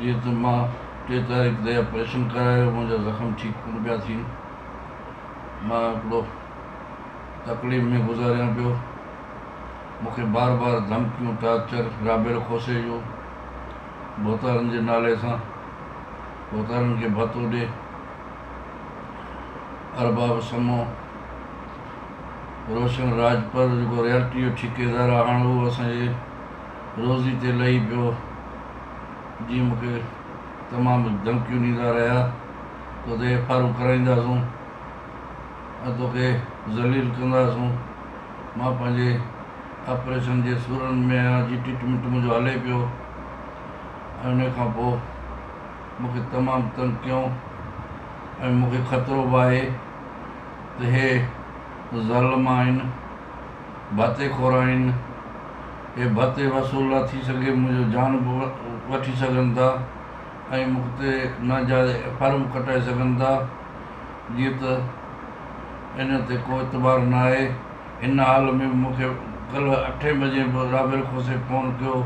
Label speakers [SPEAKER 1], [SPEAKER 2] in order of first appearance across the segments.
[SPEAKER 1] جيئن ته مان ٽي تاريخ تي آپريشن ڪرايو، منهنجا زخم ٺيڪ ڪونه پيا ٿين، مان هڪڙو تڪليف ۾ گذاريان پيو، مون کي بار بار ڌمڪيون، ٽارچر، رابيل کوسي جو ڀوتارن جي نالي سان ڀوتارن کي ڀتو ڏي، ارباب سمون. روشن راڄپر جيڪو ريالٽيء جو ٺيڪيدار آ، هاڻ اهو اسان جي روزي تي لهي پيو. جيئن مون کي تمام ڌمڪيون ڏيندا رهيا، تو تي ايف آرون ڪرائينداسون ۽ توکي ذليل ڪنداسون. مان پنهنجي آپريشن جي سورن ۾ آهيان، جي ٽريٽمينٽ منهنجو هلي پيو ۽ انهيء کان پوء مون کي تمام تنگ ڪيائون ۽ مون کي خطرو به آهي. ته هي ظالم آهن، ڀتي خور آهن، هي ڀتي وصول نه ٿي سگهي منهنجو جان به وٺي سگهن ٿا ۽ مون تي ناجائز ايفآر به ڪٽائي سگهن ٿا، جيئن ته ان تي ڪو اعتبار نه آهي، هن حال ۾ به مون کي ڪلهه اٺين بجي به رابيل کوسي فون ڪيو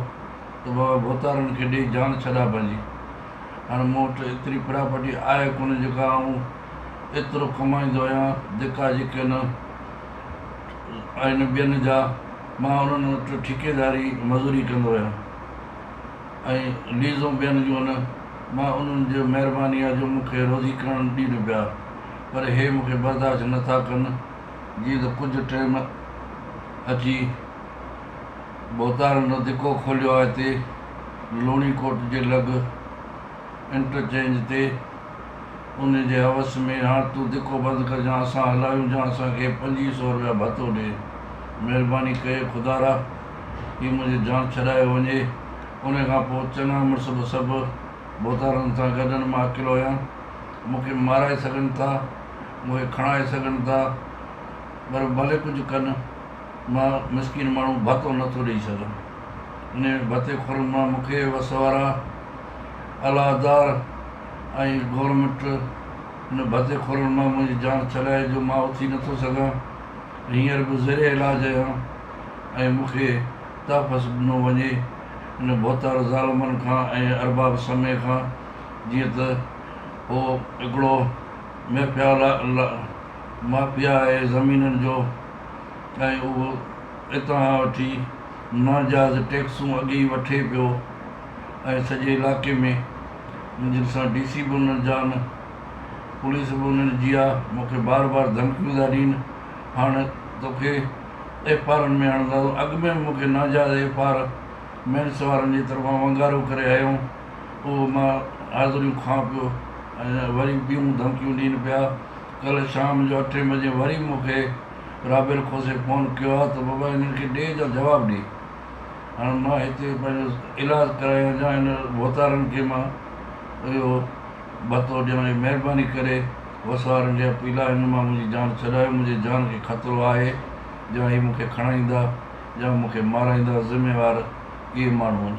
[SPEAKER 1] ته بابا ڀوتارن کي ڏيئي جان ڇڏاء پنهنجي، هاڻ مون وٽ ايتري پراپرٽي آهي ڪونه جيڪا آئون ايترو ڪمائيندو آهيان، جيڪا جيڪي نه آهن ٻين جا، مان انهن وٽ ٺيڪيداري مزوري ڪندو آهيان ۽ ليزون ٻين جون نه، مان انهن جي مهرباني آ جو مون کي روزي ڪرڻ ڏين پيا، پر هي مون کي برداشت نه ٿا ڪن، جيئن ته ڪجهه ٽيم اچي ڀوتارن جو ڌڪو کوليو آهي تي لوڻي ڪوٽ جي لڳ انٽرچينج تي. ان جي عوض ۾ هاڻ تون ڌڪو بند ڪر جان اسان هلايون جان اسان کي پنجيهه سئو رپيا ڀتو ڏي. مهرباني ڪيئي خدارا هي منهنجي جان ڇڏايو وڃي. ان کان پوء چڱا مڙس به سڀ ڀوتارن سان گڏن مان اڪيلو هيان. مون کي مارائي سگهن ٿا، مون کي کڻائي سگهن ٿا پر ڀلي ڪجهه ڪن مان مسڪين ماڻهو ڀتو نه ٿو ڏئي سگهان. انهن ڀتي خورن مان مون کي وس وارا الهدار، ۽ گورنمينٽ ان ڀتي خورن مان منهنجي جان ڇڏائي جو مان اٿي نٿو سگهان هينئر به زير علاج اهيان ۽ مون کي تحفظ ڏنو وڃي ان ڀوتار ظالمن کان ۽ ارباب سمي کان جيئن ته هو هڪڙو ميفيا مافيا آهي زمينن جو ۽ اهو اتان وٺي ناجائز ٽيڪسون اڳي ئي وٺي پيو. ۽ سڄي علائقي ۾ منهنجن سان ڊي سي به انهن جا نه پوليس به انهن جي آ مونکي بار بار ڌمڪيون ٿا ڏين هاڻ توکي ايف آرن ۾ هڻنداسون اڳ ۾ به مونکي ناجائز ايف آر مينس وارن جي طرفان ونگارو ڪري هيون اهو مان حاضريون کان پيو ۽ وري ٻيون ڌمڪيون ڏين پيا ڪلهه شام جو اٺين بجي وري مونکي رابيل کوسي فون ڪيو آ ته بابا هنن کي ڏي جا جواب ڏي. هاڻ مان هتي پنهنجو علاج ڪرايان جا هن ڀوتارن کي مان اهو ڀتو ڏيان اهي مهرباني ڪري وسوارن کي اپيل آهي هن مان منهنجي جان ڇڏايو منهنجي جان کي خطرو آهي جا هي مون کي کڻائيندا جا مون کي مارائيندا ذميوار اهي ماڻهو آهن